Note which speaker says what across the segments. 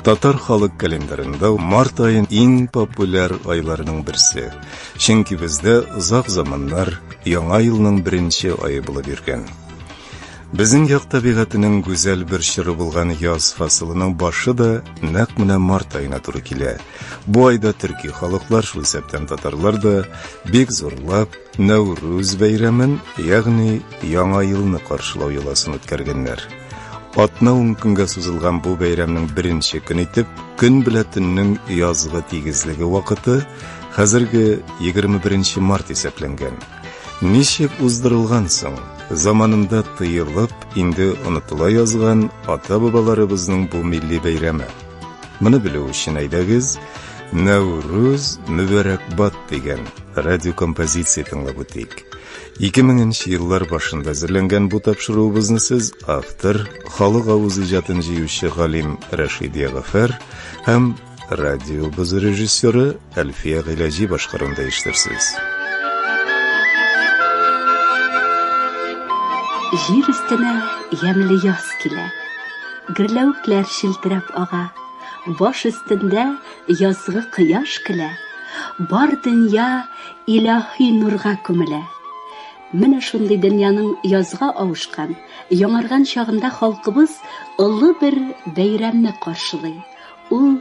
Speaker 1: Татар халык календарында март айын иң популяр айларының берсе. Чөнки бездә озак заманнар яңа елның беренче айы булып йөргән. Безнең як табигатының гүзәл бер чоры булган яз фасылының башы да нәкъ менә март аена туры килә. Бу айда төрки халыклар, шул исәптән татарлар да бик зурлап Нәүрүз бәйрәмен, ягъни Яңа елны каршылау йоласын үткәргәннәр. Атна ун көнгә сузылган бу бәйрәмнең беренче көн итеп, көн белә төннең язгы тигезлеге вакыты хәзерге 21 март исәпләнгән. Ничек уздырылган соң? Заманында тыелып, инде онытыла язган ата-бабаларыбызның бу милли бәйрәме. Моны белү өчен әйдәгез, Нәүрүз Мөбәрәкбат дигән радиокомпозиция тыңлап үтик. 2000 еллар башында әзерләнгән бу тапшыруыбызны сез автор, халык авыз иҗатын җыючы галим Рәшидия Гафәр һәм радиобыз режиссеры Әлфия Гыйләҗи башкарында иштерсез.
Speaker 2: Җир өстенә ямьле яз килә. Гөрләвекләр челтерәп ага. Баш өстендә язгы кояш көлә. Бар дөнья илаһи нурга күмелә. Менә шундый дөньяның язга авышкан, яңарган чагында халкыбыз олы бер бәйрәмне каршылый. Ул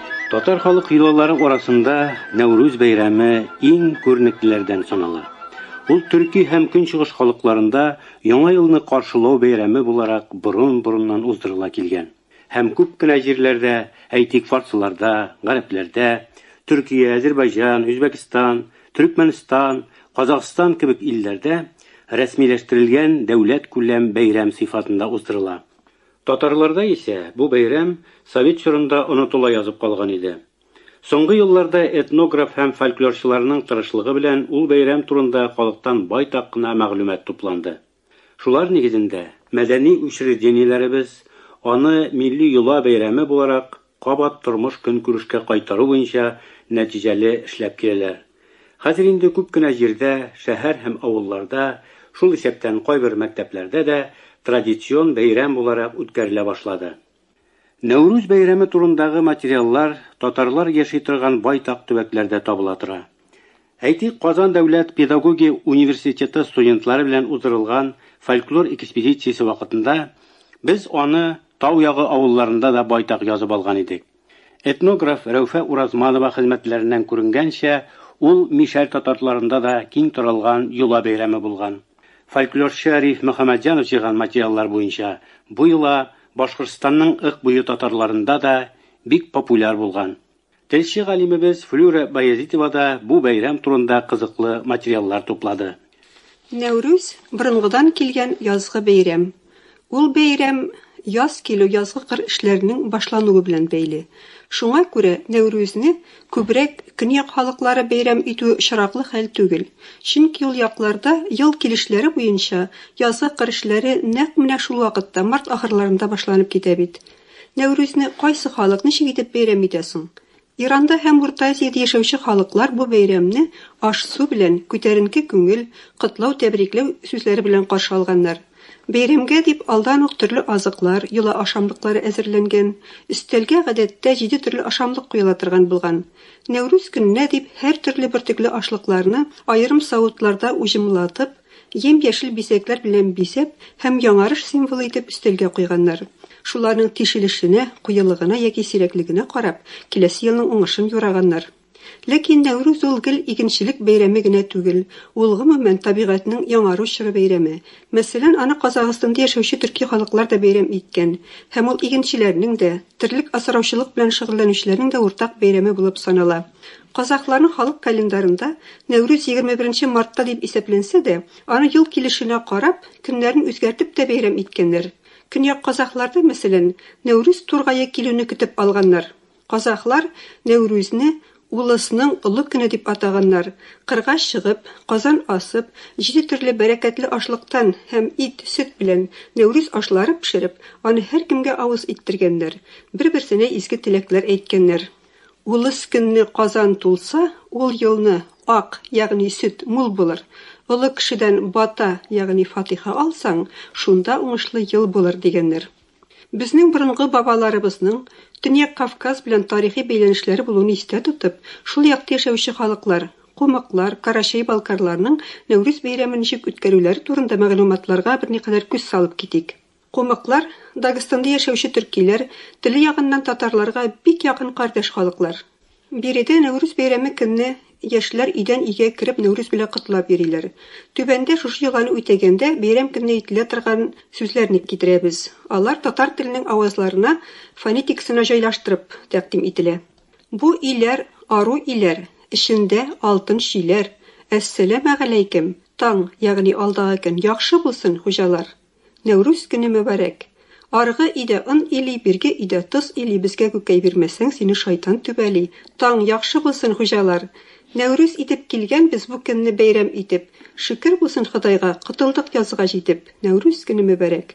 Speaker 3: Татар халык йолалары арасында Нәүрүз бәйрәме иң күренеклеләрдән санала. Ул төрки һәм көнчыгыш халыкларында Яңа елны каршылау бәйрәме буларак борын-борыннан уздырыла килгән һәм күп кенә җирләрдә, әйтик, фарсыларда, гарәпләрдә, Төркия, Әзербайҗан, Үзбәкстан, Төрекмәнстан, Казахстан кебек илләрдә рәсмиләштерелгән дәүләткүләм бәйрәм сыйфатында уздырыла. Татарларда исә бу бәйрәм совет чорында онытыла язып калган иде. Соңгы елларда этнограф һәм фольклорчыларның тырышлыгы белән ул бәйрәм турында халыктан байтак кына мәгълүмат тупланды. Шулар нигезендә, мәдәни учреждениеләребез аны милли йола бәйрәме буларак кабат тормыш-көнкүрешкә кайтару буенча нәтиҗәле эшләп киләләр. Хәзер инде күп кенә җирдә, шәһәр һәм авылларда, шул исәптән кайбер мәктәпләрдә дә традицион бәйрәм буларак үткәрелә башлады. Нәүрүз бәйрәме турындагы материаллар татарлар яши торган байтак төбәкләрдә табыла тора. Әйтик, Казан дәүләт педагогия университеты студентлары белән уздырылган фольклор экспедициясе вакытында без аны тау ягы авылларында да байтак язып алган идек. Этнограф Рәүфә Уразманова хезмәтләреннән күренгәнчә, ул мишәр татарларында да киң таралган йола бәйрәме булган. Фольклорчы Риф Мөхәммәтҗанов җыйган материаллар буенча, бу йола Башкортстанның Ык буе татарларында да бик популяр булган. Телче галимебез Флюра Баязитова да бу бәйрәм турында кызыклы материаллар туплады. Нәүрүз,
Speaker 4: борынгыдан килгән язгы бәйрәм. Ул бәйрәм яз килү, язгы кыр эшләренең башлануы белән бәйле. Шуңа күрә Нәүрүзне күбрәк көньяк халыклары бәйрәм итүе очраклы хәл түгел. Чөнки ул якларда ел килешләре буенча язгы кыр эшләре нәкъ менә шул вакытта, март ахырларында башланып китә бит. Нәүрүзне кайсы халык ничек итеп бәйрәм итә соң? Иранда һәм Урта Азиядә яшәүче халыклар бу бәйрәмне аш-су белән, күтәренке күңел, котлау-тәбрикләү сүзләре белән каршы алганнар. Бәйрәмгә дип алдан ук төрле азыклар, йола ашамлыклары әзерләнгән. Өстәлгә, гадәттә, җиде төрле ашамлык куела торган булган. Нәүрүз көненә дип һәртөрле бөртекле ашлыкларны аерым савытларда уҗымлатып, Ем-яшел бизәкләр белән бизәп һәм яңарыш символы итеп өстәлгә куйганнар. Шуларның тишелешенә, куелыгына яки сирәклегенә карап, киләсе елның уңышын юраганнар. Ләкин Нәүрүз ул гел игенчелек бәйрәме генә түгел, ул, гомумән, табигатьнең яңару чоры бәйрәме. Мәсәлән, аны Казагыстанда яшәүче төрки халыклар да бәйрәм иткән. Һәм ул игенчеләрнең дә, терлек асраучылык белән шөгыльләнүчеләрнең дә уртак бәйрәме булып санала. Казахларның халык календарында Нәүрүз егерме беренче мартта дип исәпләнсә дә, аны ел килешенә карап, көннәрен үзгәртеп тә бәйрәм иткәннәр. Көньяк казахларда, мәсәлән, Нәүрүз тургае килүне көтеп алганнар. Казахлар Нәүрүзне Улысның олы көне дип атаганнар, кырга чыгып, казан асып, җиде төрле бәрәкәтле ашлыктан һәм ит, сөт белән Нәүрүз ашлары пешереп, аны һәркемгә авыз иттергәннәр, бер-берсенә изге теләкләр әйткәннәр. Улыс көнне казан тулса, ул елны ак, ягъни сөт, мул булыр. Олы кешедән бата, ягъни фатыйха алсаң, шунда уңышлы ел булыр, дигәннәр. Безнең борынгы бабаларыбызның Төньяк Кавказ белән тарихи бәйләнешләре булуын истә тотып, шул якта яшәүче халыклар, кумыклар, карачай-балкарларның Нәүрүз бәйрәмен ничек үткәрүләре турында мәгълүматларга берникадәр күз салып китик. Кумыклар, Дагестанда яшәүче төркиләр, теле ягыннан татарларга бик якын кардәш халыклар. Биредә Нәүрүз бәйрәме көнне яшьләр өйдән өйгә кереп Нәүрүз белән котлап йөриләр. Түбәндә шушы йоланы үтәгәндә бәйрәм көнне әйтелә торган сүзләрне китерәбез. Алар татар теленең авазларына фонетикасына җайлаштырып тәкъдим ителә. Бу иләр, ару иләр, эчендә алтын чиләр, Әссәләмәгаләйкем, таң, ягъни алдагы көн яхшы булсын, хуҗалар! Нәүрүз көне мөбарәк! Аргы өйдә он или, бирге өйдә тоз или безгә күкәй бирмәсәң, сине шайтан түбәли! Таң яхшы булсын, хуҗалар! Нәүрүз итеп килгәнбез бу көнне бәйрәм итеп! Шөкер булсын Ходайга, котылдык язга җитеп! Нәүрүз көне мөбарәк!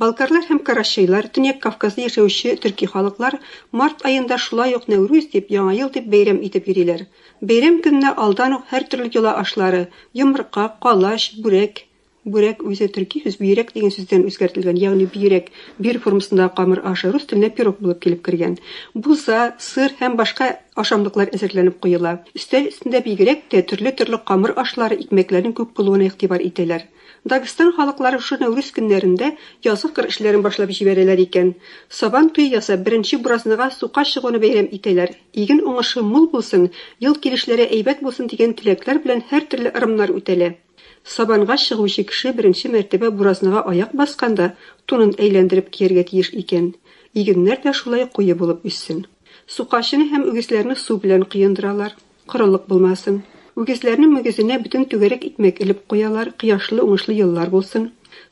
Speaker 4: Балкарлар һәм карачайлар, Төньяк Кавказда яшәүче төрки халыклар март аенда шулай ук Нәүрүз дип, Яңа ел дип бәйрәм итеп йөриләр. Бәйрәм көненә алдан ук һәртөрле йола ашлары, йомырка, калач, бүрәк, Бүрәк үзе төрки сүз бөерәк дигән сүздән үзгәртелгән, ягъни бөерәк, бир формасындагы камыр ашы, рус теленә пирог булып килеп кергән. Буза, сыр һәм башка ашамлыклар әзерләнеп куела. Өстәл өстендә бигрәк тә төрле-төрле камыр ашлары, икмәкләрнең күп булуына игътибар итәләр. Дагестан халыклары шушы Нәүрүз көннәрендә язгы кыр эшләрен башлап җибәрәләр икән. Сабан туе ясап, беренче буразныга сука чыгуны бәйрәм итәләр. Иген уңышы мул булсын, ел килешләре әйбәт булсын дигән теләкләр белән һәртөрле ырымнар үтәлә. Сабанга чыгучы кеше беренче мәртәбә буразнага аяк басканда тунын әйләндереп кияргә тиеш икән. Игеннәр дә шулай куе булып үссен. Сукачыны һәм үгезләрне су белән коендыралар, корылык булмасын. Үгезләрнең мөгезенә бөтен түгәрәк икмәк элеп куялар, кояшлы-уңышлы еллар булсын.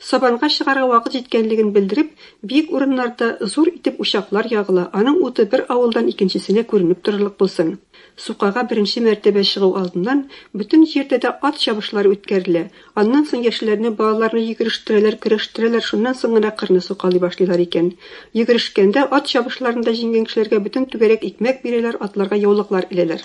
Speaker 4: Сабанга чыгарга вакыт җиткәнлеген белдереп, биек урыннарда зур итеп учаклар ягыла, аның уты бер авылдан икенчесенә күренеп торырлык булсын. Сукага беренче мәртәбә чыгу алдыннан бөтен җирдә дә ат чабышлары үткәрелә, аннан соң яшьләрне, балаларны йөгерештерәләр, көрәштерәләр, шуннан соң гына кырны сукалый башлыйлар икән. Йөгерешкәндә, ат чабышларында җиңгән кешеләргә бөтен түгәрәк икмәк бирәләр, атларга яулыклар эләләр.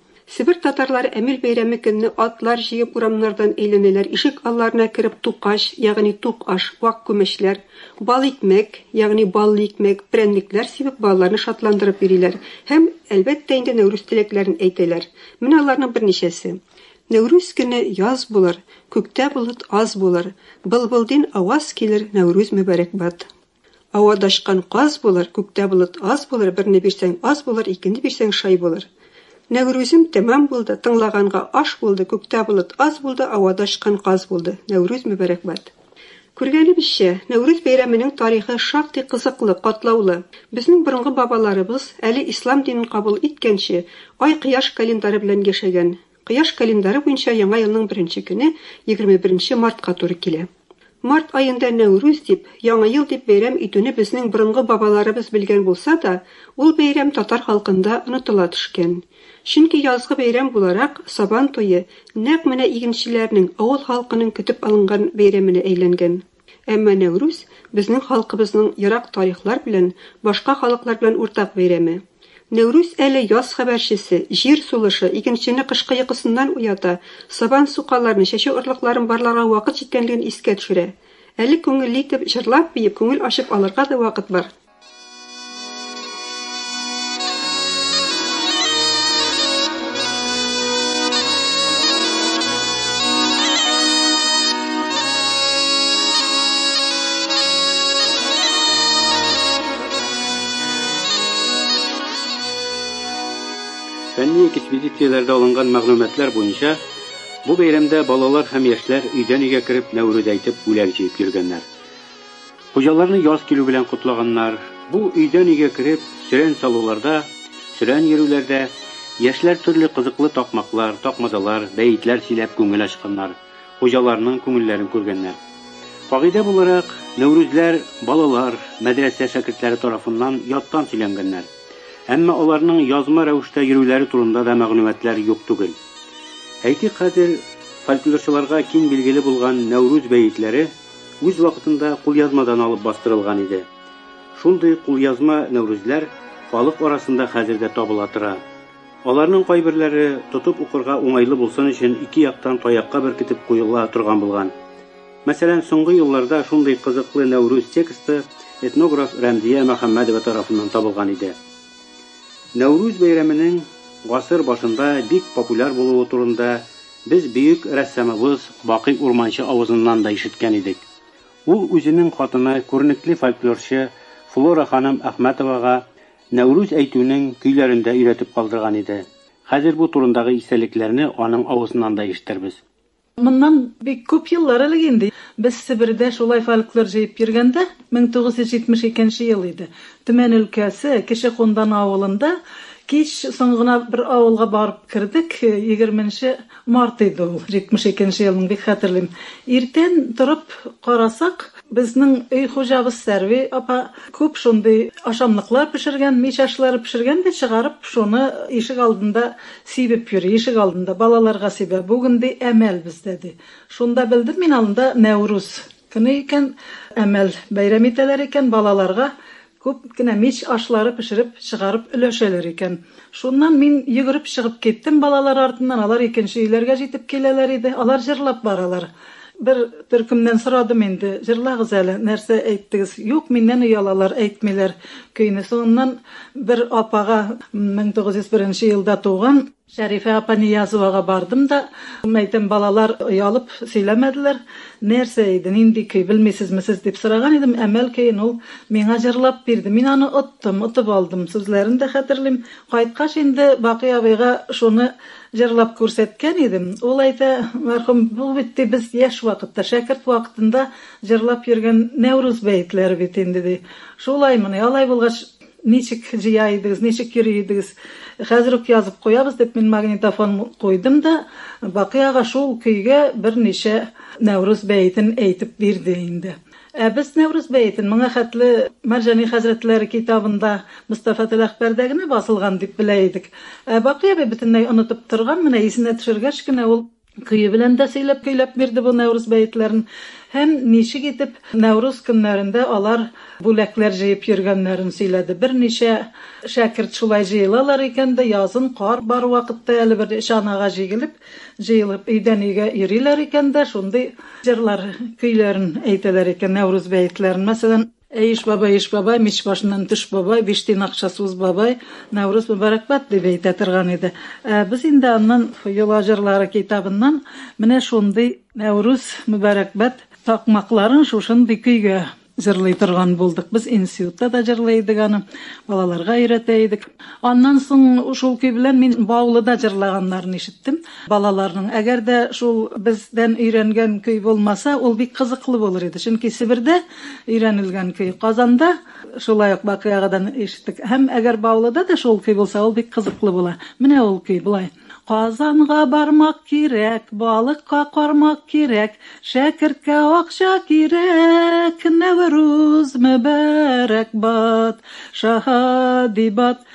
Speaker 4: Себер татарлары Әмил бәйрәме көнне атлар җыеп урамнардан әйләнәләр, ишек алларына кереп тукач, ягъни тук аш, вак күмәчләр, бал икмәк, ягъни баллы икмәк, прәннекләр сибеп балаларны шатландырып йөриләр һәм, әлбәттә инде, Нәүрүз теләкләрен әйтәләр. Менә аларның берничәсе. Нәүрүз көне яз булыр, күктә болыт аз булыр, былбылдин аваз килер, Нәүрүз мөбарәкбат. Ау адашкан каз булыр, Күктә болыт аз булыр, Берне бирсәң аз булыр, Икене бирсәң шай булыр. Нәүрүзем тәмам булды, Тыңлаганга аш булды, Күктә болыт аз булды, Ау адашкан каз булды. Нәүрүз мөбәрәкбат! Күргәнебезчә, Нәүрүз бәйрәменең тарихы шактый кызыклы, катлаулы. Безнең борынгы бабаларыбыз, әле ислам динен кабул иткәнче, ай-кояш календаре белән яшәгән. Кояш календаре буенча яңа елның беренче көне егерме беренче мартка туры килә. Март аенда Нәүрүз дип, Яңа ел дип бәйрәм итүне безнең борынгы бабаларыбыз белгән булса да, ул бәйрәм татар халкында онытыла төшкән. Чөнки язгы бәйрәм буларак, Сабан туе, нәкъ менә игенчеләрнең, авыл халкының көтеп алынган бәйрәменә әйләнгән. Әмма Нәүрүз, безнең халкыбызның ерак тарихлар белән, башка халыклар белән уртак бәйрәме. Нәүрүз әле яз хәбәрчесе, җир сулышы, игенчене кышкы йокысыннан уята, сабан сукаларын, чәчү орлыкларын барларга вакыт җиткәнлеген искә төшерә. Әле күңелле итеп, җырлап-биеп, күңел ачып алырга да вакыт бар.
Speaker 3: Фәнни экспедицияләрдә алынган мәгълүматлар буенча, бу бәйрәмдә балалар һәм яшьләр өйдән-өйгә кереп мәүлүд әйтеп, бүләк җыеп йөргәннәр. Хуҗаларны яз килү белән котлаганнар. Бу өйдән-өйгә кереп, сөрән салуларда, сөрән йөрүләрдә яшьләр төрле кызыклы такмаклар, такмазалар, бәетләр сөйләп күңел ачканнар, хуҗаларның күңелләрен күргәннәр. Кагыйдә буларак, Нәүрүзләр балалар, мәдрәсә шәкертләре тарафыннан яттан сөйләнгәннәр. Әмма аларның язма рәвештә йөрүләре турында да мәгълүматлар юк түгел. Әйтик, хәзер фольклорчыларга киң билгеле булган Нәүрүз бәетләре, Үз вакытында кулъязмадан алып бастырылган иде. Шундый кулъязма Нәүрүзләр халык арасында хәзер дә табыла тора. Аларның кайберләре тотып укырга уңайлы булсын өчен ике яктан таякка беркетеп куела торган булган. Мәсәлән, соңгы елларда шундый кызыклы Нәүрүз тексты этнограф Рәмзия Мөхәммәдова тарафыннан табылган иде. Нәүрүз бәйрәменең гасыр башында бик популяр булуы турында Без бөек рәссамыбыз Бакый Урманче авызыннан да ишеткән идек. Ул үзенең хатыны, күренекле фольклорчы Флора ханым Әхмәтовага Нәүрүз әйтүнең көйләрен дә өйрәтеп калдырган иде. Хәзер бу турындагы истәлекләрне аның авызыннан да ишетербез. Моннан
Speaker 5: бик күп еллар элек инде, без Себердә шулай фольклор җыеп йөргәндә, 1972 ел иде, Төмән өлкәсе, Кече Кундан авылында кич соң гына бер авылга барып кердек. Егерме нче март иде ул, җитмеш икенче елның, бик хәтерлим. Иртән торып карасак, безнең өй хуҗабыз Сәрви апа күп шундый ашамлыклар пешергән, мич ашлары пешергән дә, чыгарып, шуны ишек алдында сибеп йөри, ишек алдында балаларга сибә. Бүген, ди, әмәл бездә, ди. Шунда белдем мин анда Нәүрүз. Көне икән, Әмәл бәйрәм итәләр икән, балаларга күп кенә мич ашлары пешереп чыгарып өләшәләр икән. Шуннан мин йөгереп чыгып киттем балалар артыннан, алар икенче өйләргә җитеп киләләр иде. Алар җырлап баралар. Бер төркемнән сорадым инде, җырлагыз әле, нәрсә әйттегез? Юк, миннән оялалар, әйтмиләр көйне. Соңыннан бер апага, 1901 елда туган, Шәрифә апа Ниязовага бардым да, әйтәм, балалар оялып сөйләмәделәр, нәрсә иде, нинди көй, белмисезме сез, дип сораган идем, Әмәл көен ул миңа җырлап бирде. Мин аны оттым, отып алдым, сүзләрен дә хәтерлим. Кайткач инде Бакый абыйга шуны җырлап күрсәткән идем. Ул әйтә, мәрхүм, бу бит, ди, без яшь вакытта, шәкерт вакытында җырлап йөргән Нәүрүз бәетләре бит инде, ди. Шулаймыни, алай булгач, Ничек җыя идегез, ничек йөри идегез? Хәзер үк язып куябыз, дип, мин магнитофон куйдым да, Бакый ага шул көйгә берничә Нәүрүз бәетен әйтеп бирде инде. Ә без Нәүрүз бәетен моңа хәтле Мәрҗани хәзрәтләре китабында, Мостафа Теләхбәрдә генә басылган дип белә идек. Ә Бакый абый бөтенләй онытып торган, менә исенә төшергәч кенә ул. Көе белән дә сөйләп-көйләп бирде бу Нәүрүз бәетләрен һәм ничек итеп Нәүрүз көннәрендә алар бүләкләр җыеп йөргәннәрен сөйләде. Берничә шәкерт шулай җыелалар икән дә, язын кар бар вакытта әле бер чанага җигелеп, җыелып өйдән-өйгә йөриләр икән дә, шундый җырлар, көйләрен әйтәләр икән, Нәүрүз бәетләрен. Мәсәлән, Әй, иш бабай, иш бабай, мич башыннан төш бабай, биш тиен акча суз бабай, Нәүрүз мөбарәкбат, дип әйтә торган иде. Ә без инде аннан Йола җырлары китабыннан менә шундый Нәүрүз мөбарәкбат такмакларын шушындый көйгә җырлый торган булдык. Без институтта да җырлый идек аны, балаларга өйрәтә идек. Аннан соң шул көй белән мин Баулыда җырлаганнарын ишеттем балаларның. Әгәр дә шул бездән өйрәнгән көй булмаса, ул бик кызыклы булыр иде. Чөнки Себердә Өйрәнелгән көй. Казанда шулай ук Бакый агадан ишеттек. Һәм әгәр Баулыда да шул көй булса, ул бик кызыклы була. Менә ул көй болай. Казанга бармак кирәк, балыкка кармак кирәк, шәкерткә акча кирәк, Нәүрүз мөбарәк бат, шаһади бат.